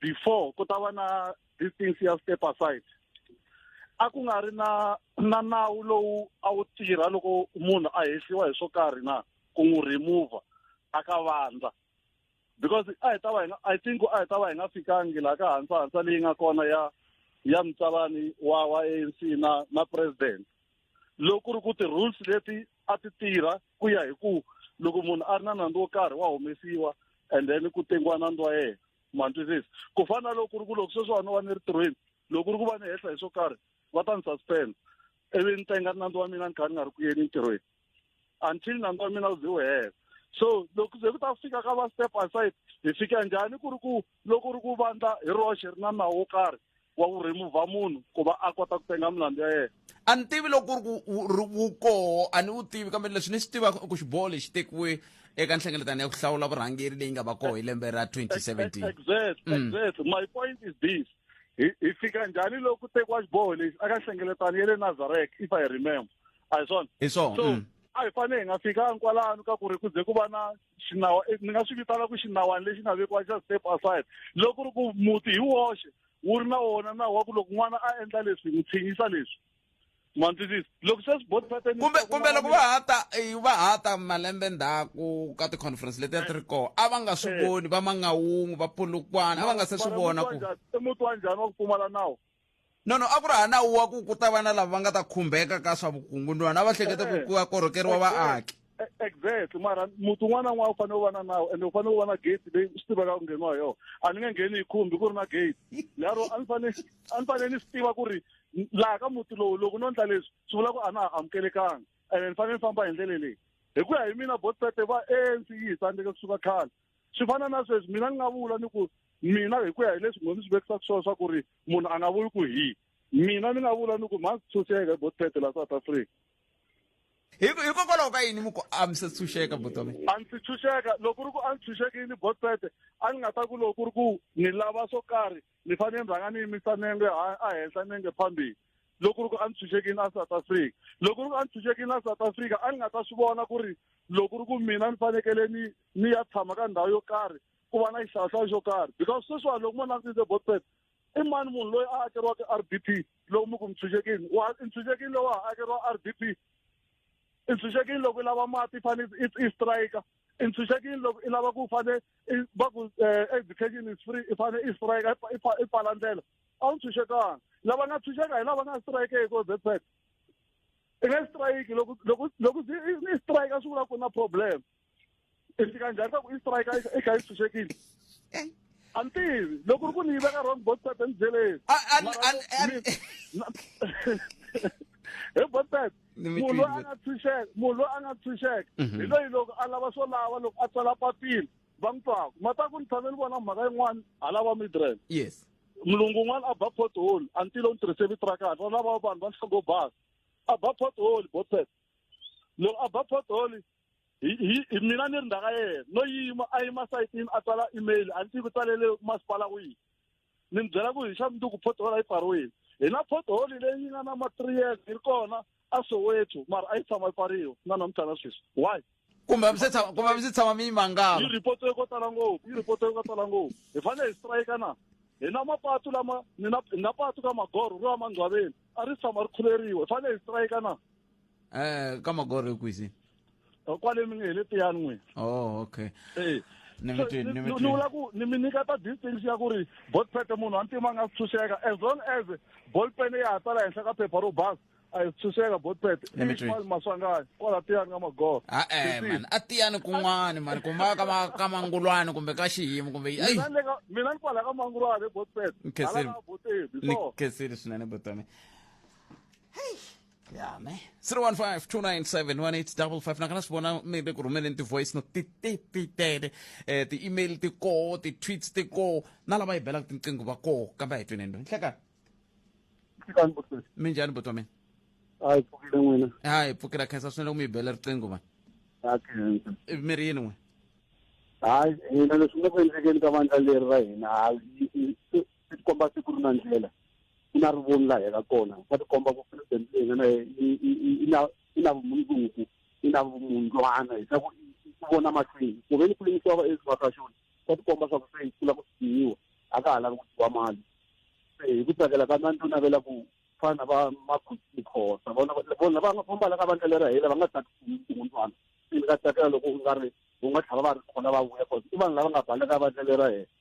before ku ta va na distance ya step aside a ku nga ri na na nawu lowu a wu tirha loko munhu a hehliwa hi swo karhi na ku n'wi remova a ka vandla because a hi ta va hi nga i think a hi ta va hi nga fikangi laha ka hansa hansa leyi nga kona ya ya mutsalani wa wa anc na na president loko ku ri ku ti-rules leti a ti tirha ku ya hi ku loko munhu a ri na nandzu wo karhi wa humesiwa and then ku tengiwa nandzu wa yena mantwisisi ku fana na loko ku ri ku loko sweswiwani va ni ri tirhweni loko ku ri ku va ni hehla hi swo karhi va ta ni suspend ivi ni tenga nandzu wa mina ni kha ni nga ri ku yeni ntirhweni until nandzu wa mina wu ze wu hela so loko ze ku ta fika ka va step aside hi fika njhani ku ri ku loko ri ku vandla hi roxe ri na nawu wo karhi wa ku remova munhu ku va a kota ku penga milandzu ya yena a ni tivi loko ku ri ku wu koho a ni wu tivi kambe leswi ni swi tivaka i ku xiboho lexi tekiwe eka nhlengeletano ya ku hlawula vurhangeri leyi nga va koho hi lembe ra 2017 exactly mm. exactly my point is this hi fika njhani loko tekiwa xiboho lexi aka nhlengeletano ya le nazarek if i remember a hi swona hi swona so mm. a hi fanele hi nga fikanga kwalano ka ku ri ku ze ku va na xinawa eh, ni nga swi vitana ku xinawani lexi nga vekiwa xa step aside loko ri ku muti hi woxe wu ri na wona nawu wa ku loko n'wana a endla leswi n'wi tshinyisa leswi mwandzisisi loko se swibotisateni kumbe kumbe loko va ha ta eh, va ha ta malembe ndzhaku ka ti-conference leti a ti ri eh. kona a va nga swi voni va mangawungu va pulukwana a va nga se swi vona ku muti wa njhani wa ku pfumala nawu Nono a ku ri ha nawu wa ku ku ta va na lava va nga ta khumbeka ka swa vukungunwana a va hleketa ku ku ya korhokeriwa vaaki E- exactly mara muti un'wana na un'wana u fanele u va na nawu ende u fanele u va na gate leyi swi tivaka ku ngheniwa hi yona a ni nge ngheni hi khumbi ku ri na gate lero a ni fanele a ni fanele ni swi tiva ku ri n- laha ka muti lowu loko no ndla leswi swi vula ku a na ha amukelekanga ene ni fanele ni famba hi ndlele leyi hi ku ya hi mina botpete va anc yi hi tsandzeke kusuka khale swi fana na sweswi mina ni nga vula ni ku mina hi ku ya hi leswi munhu swi vekisaka swona swa ku ri munhu a nga vuli ku hi mina ni nga vula ni ku mhani tshunxeka hi botpete la south africa hikokwalaho ka yini muku a mi se tshunxeka botome a ndzi tshunxeka loko ri ku a ni tshunxekini botpete a ni nga ta ku loko ri ku ni lava swo karhi ni fanele ni rhanga ni yimisa nenge a henhla nenge phambili loko ri ku a ni tshunxekini a south africa loko ri ku a ni tshunxekini a south africa a ni nga ta swi vona ku ri loko ri ku mina ni fanekele ni ni ya tshama ka ndhawu yo karhi ku va na xihlawuhlawu xo karhi because sweswiwani loko mo langutisile botpet i mani munhu loyi a akeriwaka r d p loko mi ku mintshunxekini wa intshunxekini lowu a akeriwa r d p intshunxekini loko i lava mati i fanele i strike intshunxekini loko i lava ku fane va ku eh, education is free i fane i strike i pfala ndlela a wu ntshunxekanga lava nga ntshunxeka hi lava nga strike hi ko botpet i nge strike loko loko loko i strike a swi vula ku na problem i fika njhani ka ku i strike i kha i tshunxekile eh. a ni tivi loko ri ku ni yi veka wrong botpet endzeleni hi botpet munhu loyi a nga tshunxeka munhu loyi a nga tshunxeka mhm. hi loyi loko a lava swo lava loko a tsala papila va n'wi twaka ma ta ku ni tshame ni vona mhaka yin'wana a lava midrel yes mulungu un'wana a ba pothole a ni tile u ni tirhise vito ra kahle va lava vanhu va nhlongo basa a ba pothole botpet loko a ba pothole mina ni ri ndhaka yena no yima a yima sayitini a tsala email a ni tivi ku tsalele masipala wihi ni mi byela ku hi xa munduku pothole a yi pfariwile hi na pothole leyi nga na ma-three years yi ri kona a soweto mara a yi tshama yi pfariwa na namuntlha na sweswi why kumbe a mi se tshama kumbe a mi se tshama mi yi mangala yi ripotiwe ko tala ngopfu yi ripotiwe ko tala ngopfu hi fanele hi strike na hi na mapatu lama ni na hi na patu ka magoro ro ya mandzwaveni a ri tshama ri khuleriwa hi fanele hi strike na eh ka magore kwisi Oh, kwale mi nge hi le tiyani n'wini oh okay Eh. Ni So, mitwi- ni ni- mitwi- ni vula ku ni mi nyiketa distance ya ku ri botpet munhu a ntima a nga si tshunxeka as long as bolpen ya ha tsala henhla ka phepha ro basa a yi tshunxeka botpet Ni mitwi- ikwale maswangani kwala tiyani ka magoro a eh Sisi, man a tiyani kun'wani mani kumba ka ma- ka mangulwani kumbe ka xiyimo kumbe yi- ai mina ni le ka- mina ni kwala ka mangulwane botpet Ni khensile. hala ka botebi ni so khensile swinene botami ya me 015297185 nakana swi vona mi le ku rhumeleni ti-voice note ti ti ti tele um ti-email ti koho ti-tweets ti koho na lava hi belaka tinqingho va koho kambe a hi tweneni loyi nhlekani fikani butwe mi njhani buti wa mina hayi pfukile n'wina hayi hi pfukela khensa swinene ku mi hi bela riqingho vanhu ha khensa Eh, mi ri yini n'we hayi hina leswi nga ku endlekeni ka vandla leri ra hina hayi swi tikomba se ku ri na ndlela ku na rivoni laha yaka kona swa tikomba ku president leyi nga na i na i na vumundzuku i na vumundlwana hi swa ku ku vona mahlweni ku ve ni ku lemisiwa va ezwa ka xona swa tikomba swa ku se yi kula ku siyiwa a ka ha lavi ku dyiwa mali se hi ku tsakela ka nani to navela ku fana va makhotsa vona vona va nga fambala ka vandla lera hela va nga tsaki vumundlwana se ni ka tsakela loko u nga ri u nga tlhava va ri khona va vuya cause i vanhu lava nga baleka vandla lera hela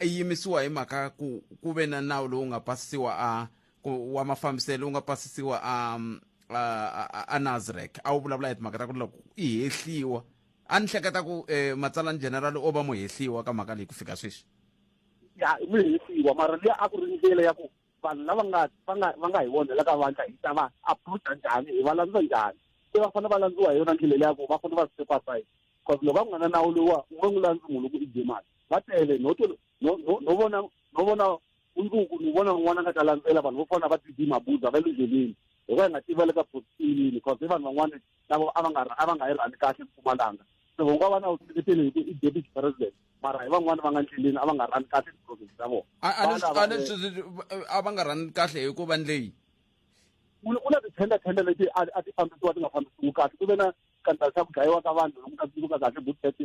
yimisiwa hi mhaka ku ku ve na nawu lowu nga pasisiwa a wa mafambiselo lowu nga pasisiwa a a, a Nasrec a wu vulavula hi timhaka ta ku loko i hehliwa a ni hleketa ku eh, matsalani general o va muhehliwa ka mhaka leyi ku fika sweswi ya i muhehliwa mara leyi a ku ri ndlela ya ku vanhu lava nga va nga va nga hi vona la ka vandla hi ta va approacha njhani hi va landza njhani se va fanele va landziwa hi yona ndlela leyi ya ku va fanele va supervise because loko va ku nga na nawu lowa u nge n'wi landzi munhu loko i dye mali va tele no to no no no vona no vona mundzuku ni vona n'wana nga ta landzela vanhu vo fana va tv mabuza va le ndleleni hi va hi nga tiva le ka positilini because i vanhu van'wana lavo a va nga a va nga yi rhani kahle mpumalanga se vo nga va na vuseketeli hi ku i deputy president mara hi van'wana va nga ndleleni a va nga rhani kahle tiprocess ta vona a va nga rhani kahle hi ku va ndleyi ku na tithenda thenda leti a ti fambisiwa ti nga fambisiwi kahle ku ve na scandal xa ku dlayiwa ka vanhu loku ka tsundzuka kahle good thirty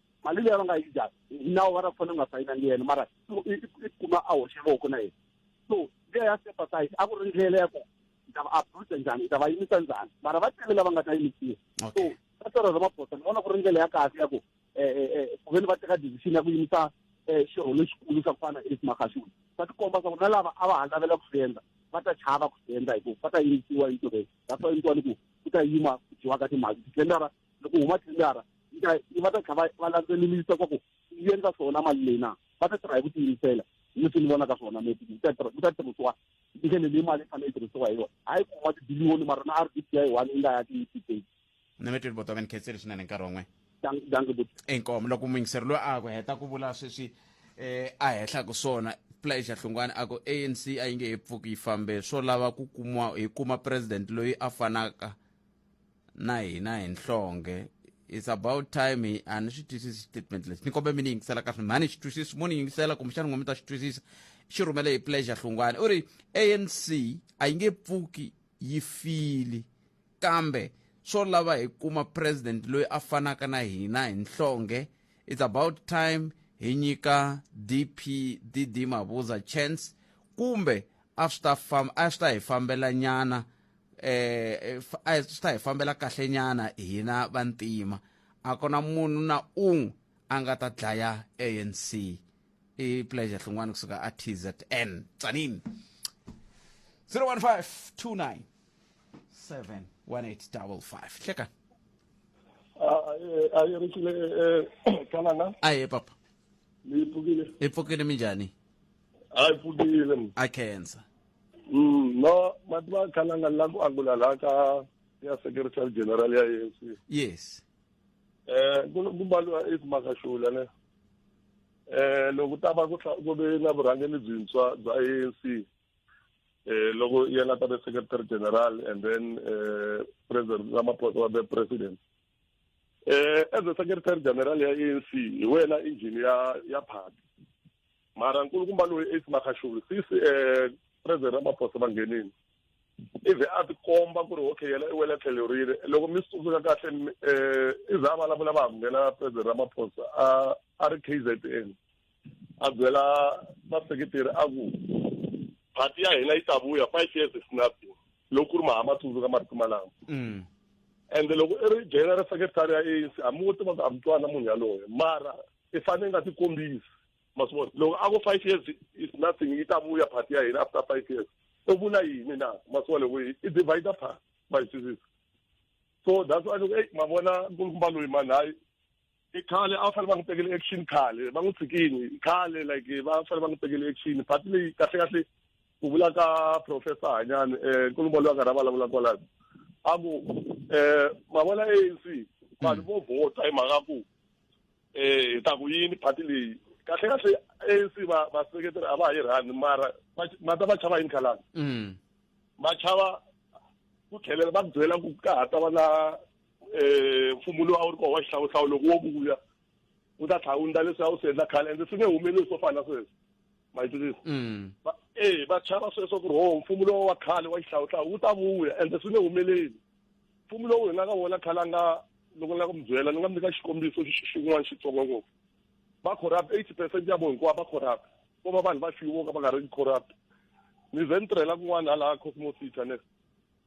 mali leyi va nga yi dya nawu va ta fanele nga sayina ni yena mara i kuma a hoxe voko na yena so ndlela ya sympathize a ku ri ndlela ya ku ni ta va abuse njhani ni ta va yimisa njhani mara va tele lava nga ta yimisiwa so ka swero ramaphosa ni vona ku ri ndlela ya kahle ya ku um eh, eh, eh, ku ve ni va teka decision ya ku yimisa um xirho lexikulu xa ku fana na esimakhashuni va tikomba swa ku na lava a va ha lavela ku swi endla va ta chava ku swi endla hikuva va ta yimisiwa entirhweni that's why ni ku ku ku ta yima ku dyiwa ka timali titendara loko huma tendara yi ta va ta kha va va landzelelisa swa ku yi endla swona mali leyi na va ta tirha hi ku tiyimisela hi leswi ni vonaka swona maybe ku ta tirha ku ta tirhisiwa ndlela leyi mali yi fanele yi tirhisiwa hi yona hayi ku huma tibiliyoni mara na r d p i one yi nga ya tiyitiseki nemetweni bota va ni khetseli swinene nkarhi wan'we inkomo loko muyingiseri loyi a ku heta ku vula sweswi um a hehla ku swona pleasure hlungwana a ku anc a yi nge he pfuki yi fambe swo lava ku kumiwa hi kuma president loyi a fanaka na hina hi nhlonge it's about time hi a ni swi twisisi statement lexi ni kombe mi ni yingisela kahle mhani xi twisisi mo ni yingisela kumbexana n'we mi ta xi twisisa xi rhumele hi pleasure hlungwana u ri anc a yi nge pfuki yi fili kambe swo lava hi kuma president loyi a fanaka na hina hi nhlonge it's about time hi nyika dp dd mabuza chance kumbe a swi ta famba a swi ta hi fambela nyana eh a swi ta hi fambela kahle nyana hina vantima a kona munhu na un'we a nga ta dlaya anc i pleasure hlungwani kusuka a tzn tsanini 015 29 71855 cheka a yi ri kile kanana aye papa ni pfukile i pfukile minjhani a yi pfukile m a khensa Mm, no mativa kanana la ku angula la ka ya secretary general ya ANC yes eh ku ku baliwa i makashula ne eh loko ta va ku hla- ku ve na vurhangeri byintshwa bya ANC eh loko yena ta be secretary general and then eh president Ramaphosa wa be president eh as a secretary general ya ANC hi wena engine ya ya party mara nkulukumba loyi Ace Magashule sisi eh president Ramaphosa va nghenini ivi a ti komba ku ri okay yena i wela tlhelo rile loko mi swi tsundzuka kahle um ivi a vulavula va ha nghena president ramaphosa a a ri k z n a byela vaseketeri a ku phati ya hina yi ta vuya five years is nothing loko ku ri mahama tsundzuka marito malama mm. and loko i ri general secretary ya anc a mi wo tiva ku a mi twana munhu yaloye mara i fanele nga tikombisi ma swi vona loko a ku five years is nothing yi ta vuya phati ya hina after five years u vula yini na ma swi vona loko i divide phati va yi twisisa so that's why loko eyi ma vona nkulukumba loyi mani hayi i khale a va fanele va n'wi tekele action khale va n'wi tshikini khale like va fanele va n'wi tekele action but leyi kahle kahle ku vula ka professor hanyani um eh, nkulumbolo wa karhi a vulavula kwalayo a ku um eh, mavona anc vanhu vo vhota hi mhaka ku um hi ta ku yini phati leyi kahle kahle anc vaseketeri a va ha yi rhani mara mata va chava yini khalani mm. va chava ku tlhelela va byela ku ka ha ta va na um mfumo lowu a wu ri kona wa xihlawuhlawu loko wo vuya wu ta tlhela wu ndla leswi a wu swi endla khale ende swi nge humeleli swo fana na sweswo ma yi twisisa mm. e va chava sweswo ku ri ho mfumo lowu wa khale wa xihlawuhlawu wu ta vuya ende swi nge humeleli mfumo lowu hi nga ka vona khale a nga loko ni lava ku mi byela ni nga mi nyika xikombiso xin'wana xitsongo ngopfu va corrupt eighty percent ya vo hinkwavo va corrupt ko va vanhu va fiwo ka va nga ri corrupt ni ze ni tirhela kun'wana hala cosmosita ne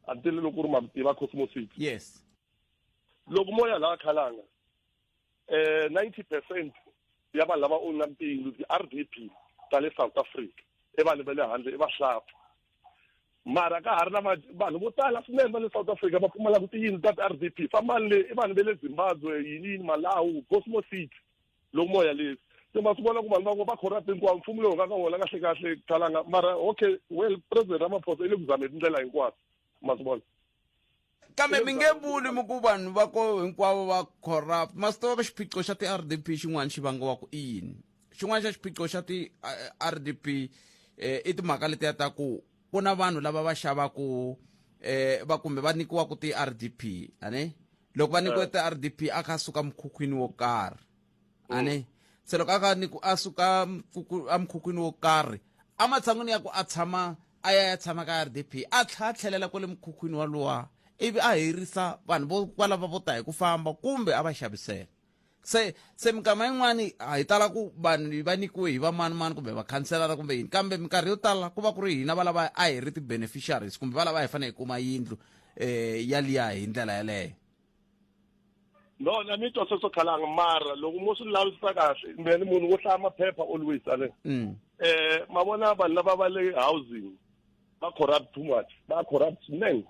a ti lelo ku ri ma ku tiva cosmosis yes loko moya laha khalanga eh 90 percent ya vanhu lava owna tiyindlu ti-r d p ta le south africa i vanhu va le handle i vahlampfa mara ka ha ri na vanhu vo tala swinene va le south africa va pfumalaka tiyindlu ta ti-r d p fambani le i vanhu va le zimbabwe yini yini malawu cosmo city loko mo yalisa se ma swi vona ku vanhu van'we va corrupt hinkwavo mfumo lowu nga ka wona kahle kahle khalanga mara okay well president ramaphosa i le ku zameni tindlela hinkwato ma swi vona kambe mi nge vuli mi ku vanhu va ko hinkwavo va corrupt ma swi tiva ka xiphiqo xa ti-r d p xin'wana xi vangiwa ku i yini xin'wana xa xiphiqo xa ti-r d p um eh, i timhaka letiya ta ku ku na vanhu lava va xavaku um va kumbe va nyikiwaku ti-r d p a ne loko va nyikiwe ti-rdp a kha a suka mukhukhwini wo karhi mm. ani se loko a kha ni ku a suka emukhukhwini wo karhi ematshan'wini ya ku a tshama a ya ya tshama ka rdp a tlha a tlhelela kwale mukhukhwini walowa ivi a herisa vanhu vo kwalava vo ta hi ku famba kumbe a va xavisela se se minkama yin'wani a hi tala ku vanhu va nyikiwe hi vamanimani kumbe vakhanselara kumbe yini kambe minkarhi yo tala ku va ku ri hina valava a hi ri ti-beneficiaries kumbe valava hi fanele hi kuma yindlu um yaliya hi ndlela yeleyo no na ni twa sweswo khalanga mara loko mo swi lavisisa kahle mina ni munhu wo hlaya maphepha always ale um ma vona vanhu lava va le housing va corrupt too much va corrupt swinene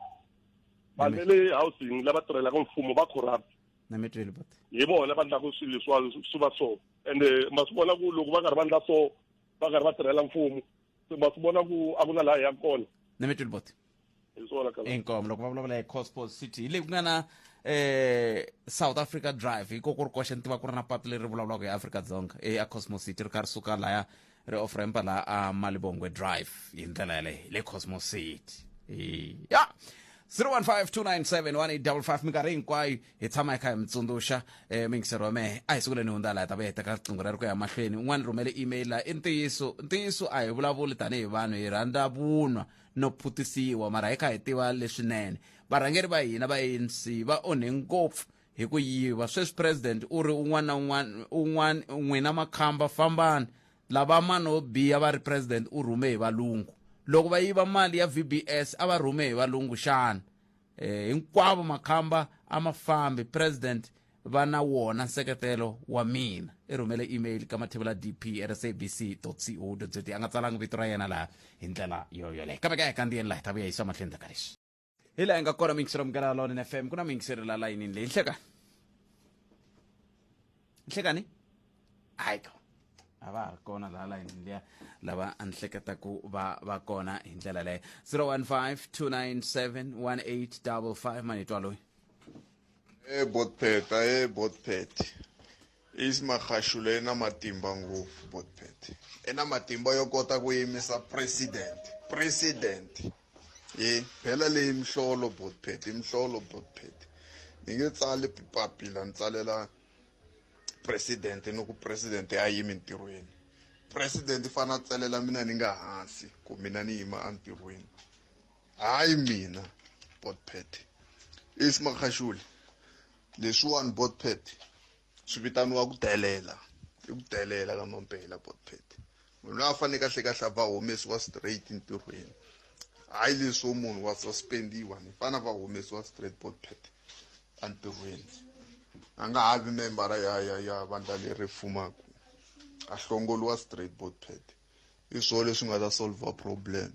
vanhu va le housing lava tirhelaka mfumo va corrupt na mi tweli but hi vona lava ndlaku swilo leswiwani swi va so ende ma swi vona ku loko va karhi va ndla so va karhi va tirhela mfumo se ma swi vona ku a ku na laha hi yaka kona na mi tweli but hi swona kala inkomo loko va vulavula hi cosport city hi leyi ku nga na eh south africa drive hi ko ku ri koxe ni tiva ku ri na patu leri vulavulaka hi afrika dzonga eya cosmo city ri karhi suka laya re offer empa la a malibongwe drive hi ndlela yaleyo le cosmos city ya 0152971855 minkarhi hinkwayo hi tshama hi kha hi mi tsundzuxa um mingiseri wa mehe a hi siku leni hundza laha ta va hi teka riqingho ra ri ku ya mahlweni un'wana rhumele email laha i ntiyiso ntiyiso a hi vulavuli tanihi vanhu hi rhandza vunwa no phutisiwa mara hi kha hi tiva leswinene varhangeri va hina va anc va onhe ngopfu hi ku yiva sweswi president u ri un'wana na un'wana un'wana n'wina makhamba fambani lava mani wo biha va ri president u rhume hi valungu loko va yiva mali ya vbs a va rhume hi valungu xana eh, hinkwavo makhamba a ma fambi president va na wona nseketelo wa mina i rhumele email ka mathevula dp rsabc co za a nga tsalanga vito ra yena laha hi ndlela yoyoleyo kambe ka hi kandziyeni laha hi ta vuya hi swa mahlweni ta ka leswi hi laha hi nga kona mingiselo munghana wa lawonene fm ku na mingiselo la layinini leyi nhlekani nhlekani hayi to a va ha ri kona laha layinini liya lava a ni hleketa ku va va kona hi ndlela leyo 015 297 1855 manitwa loyi e botpeta e botpet Ace Magashule i na matimba ngopfu Botpet i na matimba yo kota ku yimisa president president hi phela leyi mihlolo Botpet i mihlolo Botpet ni nge tsali papila ni tsalela president ni ku president a yimi ntirhweni president i fanele a tsalela mina ni nga hansi ku mina ni yima entirhweni hayi mina Botpet Ace Magashule leswiwani botpet swi vitaniwa ku delela i ku delela ka mampela botpet munhu loyi a faneke a hlekahle va humesiwa straight ntirhweni hayi leswo munhu wa suspendiwa ni fana va humesiwa straight botpet entirhweni a nga ha vi membara ya ya ya vandla leri fumaka a hlongoliwa straight botpet i swo leswi nga ta solver problem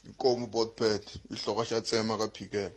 inkomu botpet i hloko xa tsema ka phikela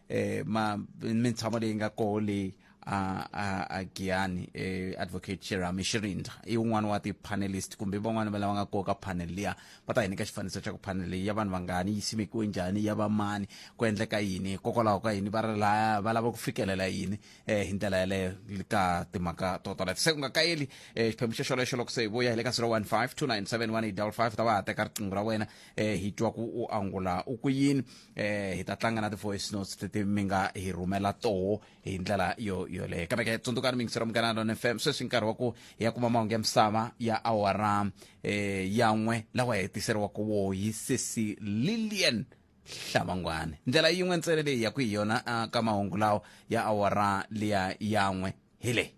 eh ma mintshamo leyi nga koho leyi a a a Giyani eh advocate Cherami Shirinda i un'wana wa ti panelist kumbe van'wana va lava nga koho ka panel liya va ta hi nyika xifaniso xa ku panel leyi ya vanhu vangani yi simekiwe njhani ya va mani ku endleka yini hikokwalaho ka yini va ri laya va lava ku fikelela yini eh hi ndlela yaleyo ka timhaka to tola se ku nga kayeli eh xiphemu xo xolexo loko se hi vuya hi le ka 015 297 1855 ta va ha teka riqingho ra wena eh hi twa ku u angula u ku yini eh hi ta tlanga na ti-voice notes leti mi nga hi rhumela toho hi ndlela yo yoleyo kambe ke tsundzukani mi yingisela munghana lona fm sweswi nkarhi wa ku hi ya kuma mahungu ya misava ya awara eh yan'we lawa hi hetiseriwaka wo hi sesi lilian hlamangwane ndlela yin'we ntsena leyi ya ku hi yona ah, ka mahungu lawa ya awara liya yan'we hi leyi